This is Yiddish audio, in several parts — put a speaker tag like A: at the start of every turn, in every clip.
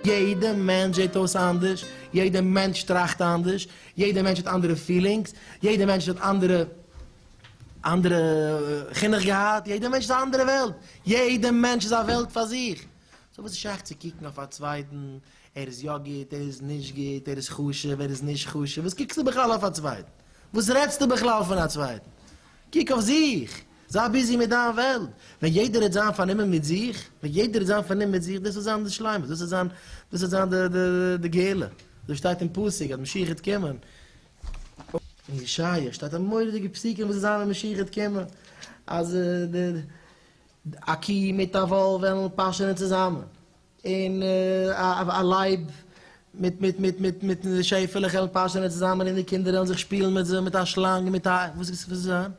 A: יעדע מענטש זעט אויס אנדערש, יעדע מענטש טראכט אנדערש, יעדע מענטש האט אנדערע פילינגס, יעדע מענטש האט אנדערע אנדערע חינוך געהאט, יעדע מענטש איז א אנדערע וועלט, יעדע מענטש איז א וועלט פאר זיך, סאו וואס איז שייך צו קוקן אויף א צווייטן? ער איז יא גוט, ער איז נישט גוט, ער איז חשוב, ער איז נישט חשוב, וואס קוקסטו בכלל אויף א צווייטן? וואס רעדסטו בכלל פון א צווייטן? קוק אויף זיך! זיי ביזי מיט דיין וועלט! ווען יעדער וועט זיין פארנומען מיט זיך, ווען יעדער וועט זיין פארנומען מיט זיך, דאס וועט זיין די שלימות, דאס וועט זיין, דאס וועט זיין די גאולה. אזוי שטייט אין פסוק אז משיח וועט קומען. אין ישעיה שטייט א מורא'דיגע פסוק וואס וועט זיין ווען משיח וועט קומען, אז די א קי מיט א וואלף וועלן פאשענען צוזאמען. און א לייב מיט מיט מיט מיט מיט די שעפעלעך וועלן פאשענען צוזאמען און די קינדער וועלן זיך שפילן מיט זיי מיט א שלאנג און מיט א וואס וואס וועט זיין?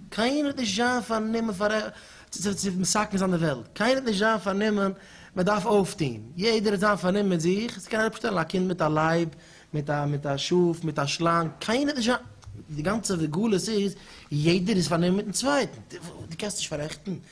A: קיינער וועט נישט זיין פארנומען פאר צו צו מסכן זיין די וועלט, קיינער וועט נישט זיין פארנומען מען דארף אויפטון, יעדער וועט זיין פארנומען מיט זיך, עס קען אראפ שטעלן א קינד מיט א לייב מיט א מיט א שאף מיט א שלאנג, קיינער וועט נישט זיין, די גאנצע גלות איז יעדער איז פארנומען מיטן צווייטן, דו קענסט נישט פארעכטן?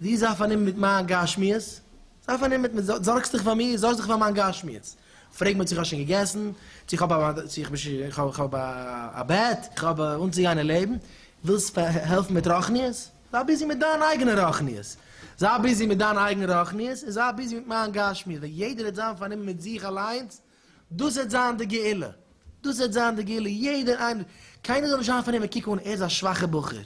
A: זי זיי פארנומען מיט מיין גשמיות, זיי פארנומען מיט מיר, זארגסט דיך פאר מיר, זארגסט דיך פאר מיין גשמיות, פרעג מיר צו איך האב שוין געגעסן, צו איך האב א, צו איך בין שוין, איך האב, איך האב א בעט, איך האב אנצוגיין אין לעבן, ווילסט העלפן מיט רוחניות, זיי ביזי מיט דיין אייגענע רוחניות, זיי ביזי מיט דיין אייגענע רוחניות, און זיי ביזי מיט מיין גשמיות, ווען יעדער וועט זיין פארנומען מיט זיך אליינס, דאס וועט זיין די גאולה, דאס וועט זיין די גאולה, יעדער איינער, קיינער זאל נישט האפן פון אים, קוק אן, ער איז א שוואכער בחור,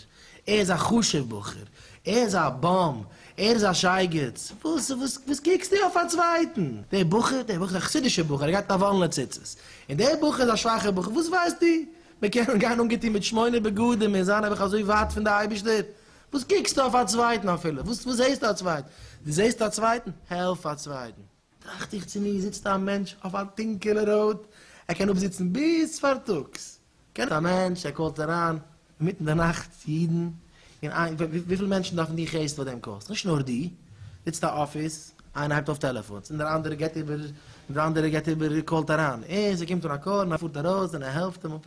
A: ער איז א חשוב בחור, ער איז א באם, ער איז א שייגעץ, וואס, וואס קוקסטו אויף א צווייטן, דער בחור, דער בחור איז א חסידישער בחור, ער גייט מיט א וואלענע ציצית, און דער בחור איז א שוואכער בחור, וואס ווייסטו, מען קען אים גיין אנגעטון מיט שמונה בגדים און זיין נעבעך אזוי ווייט פון די אייבישטער, וואס קוקסטו אויף א צווייטן אפילו, וואס זעסטו א צווייטן, דו זעסט א צווייטן, העלף א צווייטן. טראכט איך צו מיר, זיצט א מענטש אויף א טונקעלע ראוד, ער קען אפזיצן ביז פארטאגס, קען א מענטש, ער קאלט אריין אינמיטן די נאכט צו אידן, און איי וויפיל מענטשן דארפן די חסד וואס דעם קאלסט, נישט נאר דו, זיצט א אפיס, איינער הייבט אויף טעלעפאנס, און דער אנדערער געט איבער, און דער אנדערער געט איבער און קאלט אריין, און ס'קומט אן א קאל און ער פארט ארויס און ער העלפט אים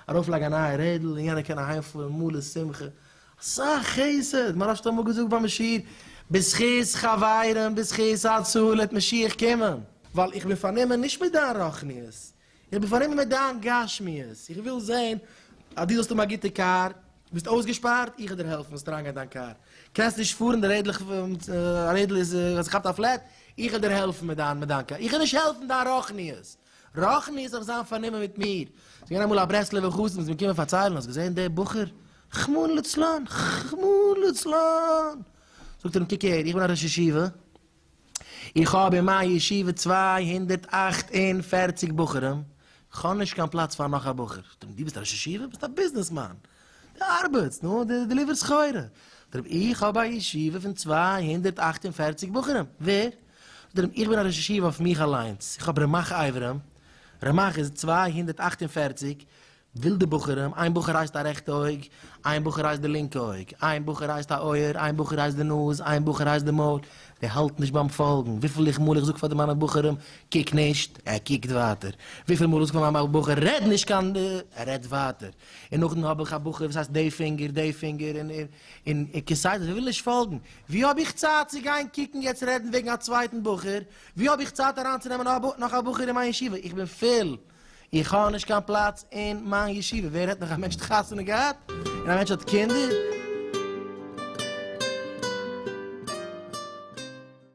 A: אראפ לייגן א נייע רעדל, און יענער קען אהיימפארן מלא שמחה, אסאך חסד, מהרש ת האט אמאל געזאגט ביים שיעור, בזכות חברים בזכות הצלה העט משיח קומען. ווייל איך בין פארנומען נישט מיט דיין רוחניות, איך בין פארנומען מיט דיין גשמיות, איך וויל זען אז דו זאלסט האבן א גוטע קאר, דו ביסט אויסגעשפארט, איך וועל דיר העלפן זאלסט אריינגיין אין דיין קאר, קענסט נישט פארן די רעדל האט זיך געכאפט א פלעט, איך וועל דיר העלפן מיט דיין קאר, איך וועל נישט העלפן דיין רוחניות, רוחניות זאל זיין פארנומען מיט מיר. ס'איז געווען אמאל א ברסלב'ער חתן, ס'איז מיר געקומען פארציילן, האסט געזען די בחור כ'מון לצלן! כ'מון לצלן! זאגט ער אים קוק הער, איך בין א ראש ישיבה, איך האב אין מיין ישיבה צוויי הונדערט אַכט און פֿערציק בחורים, כ'האב נישט קיין פלאץ פאר נאך א בחור. זאגט ער אים דו ביסט א ראש ישיבה? ביסט א ביזנעס מאן! דו ארבעטסט, נו, דו דעליווערסט סחורה. זאגט ער אים איך האב א ישיבה פון צוויי הונדערט אַכט און פֿערציק בחורים, ווער? זאגט ער אים איך בין א ראש ישיבה אויף מיך אליינס, איך האב רמח אברים, רמח איז צוויי הונדערט אַכט און פֿערציק, ווילדע בחורים, איין בחור הייסט א רעכטע אויג, איין בחור הייסט די לינקע אויג, איין בחור הייסט א אויער, איין בחור הייסט די נאז, איין בחור הייסט די מויל, די האלט נישט ביים פאלגן, וויפיל איך מאל איך זאג פאר די מיינע בחורים, קוק נישט, ער קוקט ווייטער, וויפיל מאל איך זאג פאר מיין בחור, רעד נישט קיין ד, ער רעדט ווייטער, און נאכדעם האב איך א בחור וואס הייסט די פינגער, די פינגער, און און און און כסדר, זיי ווילן נישט פאלגן, ווי האב איך צייט צו גיין קוקן יעצט רעדן וועגן א צווייטן בחור, ווי האב איך צייט אריינצונעמען נאך א בחור אין מיין ישיבה, איך בין פול. איך האב נישט קיין פלאץ אין מיין ישיבה, ווער רעדט נאך א מענטש האט חתונה געהאט און א מענטש האט קינדער.